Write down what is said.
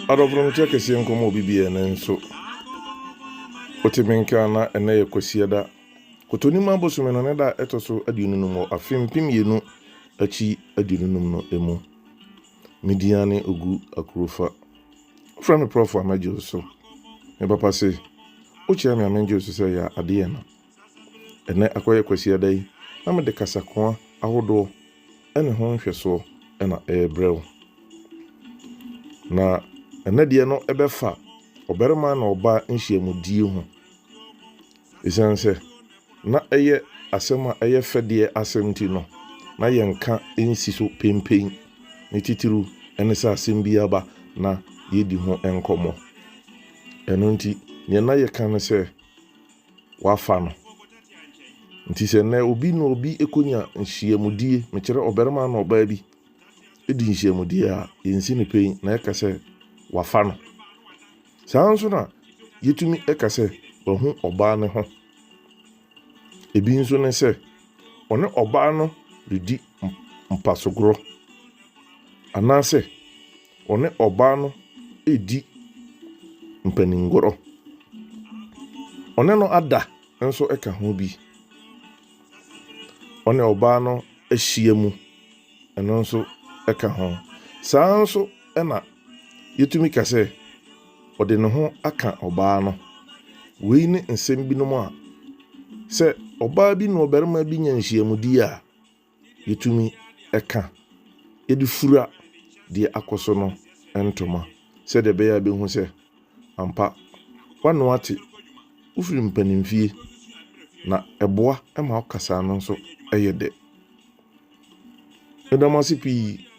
Adɔfo no mete akɛseɛ nkɔm wɔ obi biaa nanso wote me nka na ɛnɛ yɛ kwasiada kotonim abosome no ne da a ɛtɔ so aduonu num wɔ afe mpem mmienu akyi aduonu num no mu me din ane ogu akurofa wofrɛ me prɔfo a mɛgye wo so me papa se wokyerɛ me a mengye wo so sɛ yɛ adeɛ no Ɛnnɛ akɔyɛ Kwasiada yi na mede kasakoa ahodoɔ ne ho nhwɛsoɔ na ɛrebrɛ wo. Na ɛnnɛ deɛ no ɛbɛfa ɔbarima na ɔbaa nhyiamudie ho. Ɛsiane sɛ na ɛyɛ asɛm a ɛyɛ fɛdeɛ asɛm ti no, na yɛnka nsi so pempen. Ne titiriw ne sɛ asɛm bi aba na yɛdi ho nkɔmmɔ. Ɛno nti, deɛ na yɛka ne sɛ wɔafa no. Ntsi sɛ ndɛ obi na obi ekonya nhyiamudie, mekyerɛ ɔbarima na ɔbaa bi di nhyiamudie a, yennsi no pen na yɛka sɛ wɔafa no. Saa ara nso na yɛtumi ka sɛ wahu ɔbaa no ho. Ebi nso ne sɛ ɔne ɔbaa no redi mpasogorɔ anaasɛ. Wɔne ɔbaa no redi mpaninngorɔ. Ɔne no ada nso ka ho bi. Ɔne ɔbaa no ahyia mu, ɛno nso ka ho. Saa ara nso na yɛtumi ka sɛ ɔde ne ho aka ɔbaa no. Wei ne nsɛm binom a sɛ ɔbaa bi ne ɔbarima bi nya nhyiamudie a, yɛtumi ka de fura deɛ akɔ so no ntoma sɛdeɛ ɛbɛyɛ a bɛhu sɛ ampa wano ate wofiri mpanimfie na ɛboa ma wo kasaa no nso yɛ dɛ. Meda mo ase pii.